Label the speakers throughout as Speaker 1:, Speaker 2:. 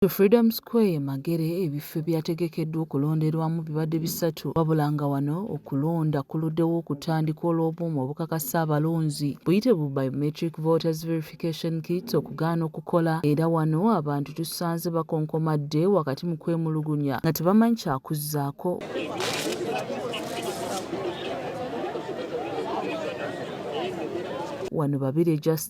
Speaker 1: Ku Freedom Square e Magere ebifo ebyategekeddwa okulonderwamu bibadde bisatu wabula nga wano okulonda kuluddewo okutandika olw'obuuma obukakasa abalonzi buyite bu Biometric Voters Verification Kits okugaana okukola era wano abantu tusanze bakonkomadde wakati mu kwemulugunya nga tebamanyi kyakuzzaako Wano Babirye Justin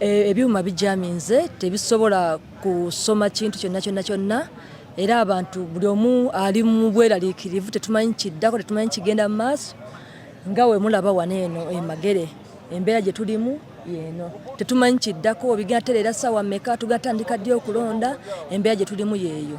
Speaker 2: E, ebyuma bijaminze tebisobola kusoma kintu kyonna kyonna kyonna era abantu buli omu ali mu bweraliikirivu tetumanyi kiddako tetumanyi kigenda mu maaso nga wemulaba wano eno emagere embeera gye tulimu yeeno tetumanyi kiddako obigenda tereera saawa meka tugatandika ddi okulonda embeera gye tulimu yeeyo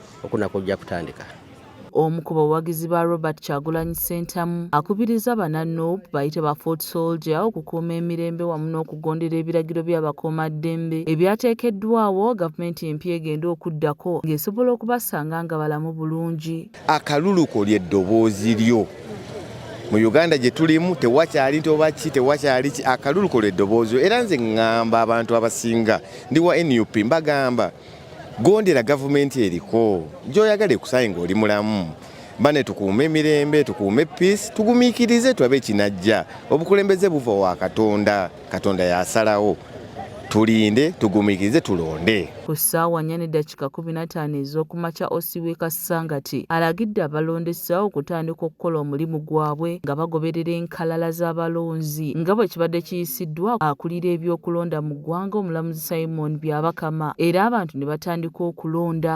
Speaker 3: okunako ojja kutandika. Omu ku
Speaker 1: bawagizi ba Robert Kyagulanyi Ssentamu akubirizza bana nup bayite ba foot soldier okukuuma emirembe wamu n'okugondera ebiragiro by'abakuumaddembe ebyateekeddwawo gavumenti empya egenda okuddako ng'esobola okubasanga nga balamu bulungi. Akalulu ko
Speaker 4: ly'eddoboozi lyo. Mu Uganda gye tulimu tewakyali nti oba ki tewakyali ki akalulu ko ly'eddoboozi lyo era nze ngamba abantu abasinga ndi wa nup mbagamba Gondera gavumenti eriko gyoyagala ekusaye ng'oli mulamu bane tukuume emirembe tukuume peace tugumikirize tulabe ekinajja obukulembeze buva wa katonda katonda yasalawo tulinde tugumikirize tulonde ku ssaawa nya
Speaker 1: ne dakika kumi na taano ez'okumakya osiweka Kasangati alagidde abalondesa okutandika okukola omulimu gwabwe nga bagoberera enkalala z'abalonzi nga bwe kibadde kiyisiddwa akulira eby'okulonda mu ggwanga omulamuzi Simon Byabakama era abantu ne batandika okulonda.